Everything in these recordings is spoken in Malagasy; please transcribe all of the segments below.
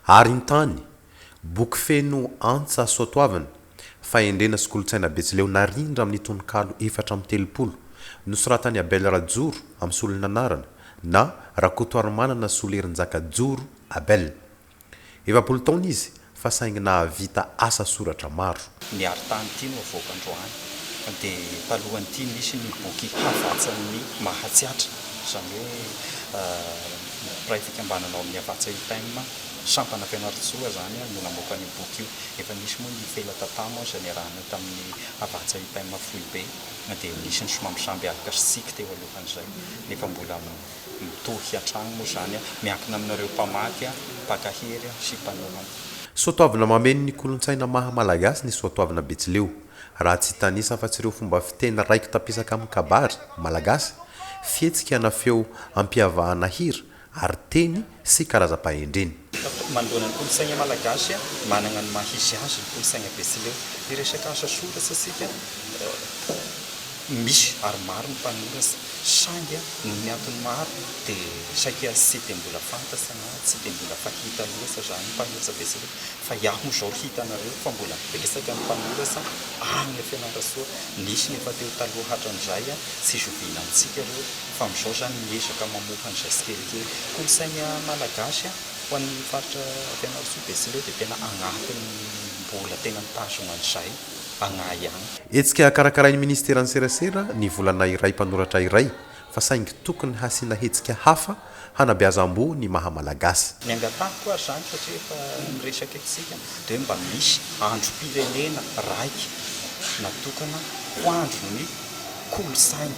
Arintany, boky feno antsa soatoavina, fahendrena sy kolontsaina betsileo narindra amin'ny tononkalo efatra amby telopolo, nosoratan'i Abel Rajoro amin'ny solon'anarana na Rakotoarimanana Solerinjaka Joro Abel. Efapolo taona izy fa saingy nahavita asa soratra maro. Ny arintany ity no avoaka androany dia talohan'ity nisy ny boky Havatsan'ny Mahatsiatra, izany hoe mpiray fikambanana ao amin'ny Havatsa UTM, sampana Fianarantsoa izany no namoaka an'io boky io. Efa nisy moa ny Felatata moa izay niarahana tamin'ny Havatsa UTM Foibe dia nisy ny somambisamby aloka sy tsiky teo alohan'izay nefa mbola Mitohy hatrany moa izany miankina aminareo mpamaky, mpaka hery sy mpanoratra. Soatoavina mameno ny kolontsaina maha Malagasy ny soatoavina betsileo. Raha tsy hitanisa afa-tsy ireo fomba fiteny raiki-tapisaka amin'ny kabary, malagasy, fihetsika na feo ampihavahana hira, ary teny sy karazam-pahendreny. Mandoana ny kolontsaina malagasy, manana ny maha izy azy ny kolontsaina betsileo. Hiresaka asa soratsa isika, misy ary maro ny mpanoratra saingy noho ny antony maro dia saika tsy dia mbola fantatra na tsy dia mbola fahita loatra izany ny mpanoratra betsileo fa iah moa izao hitanareo fa mbola betsaka ny mpanoratra any fianarantsoa nisy ny efa teo taloha hatran'izay tsy zoviana amintsika ireo fa amin'izao izany miezaka mamoaka an'izay tsikelikely. Kolontsain'ny Malagasy an, ho an'ny faritra Fianarantsoa, Betsileo dia tena agnatin'ny mbola tena mitazona an'izay agnahy ihany. Hetsika karakarain'ny Ministeran'ny Serasera ny volana iray mpanoratra iray fa saingy tokony hasiana hetsika hafa hanabeazam-boho ny maha Malagasy. Ny angatahiko ary izany satria efa miresaka eto isika dia hoe mba misy androm-pirenena raika natokana ho andron'ny kolontsaina.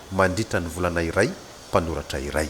mandritra ny volana iray mpanoratra iray.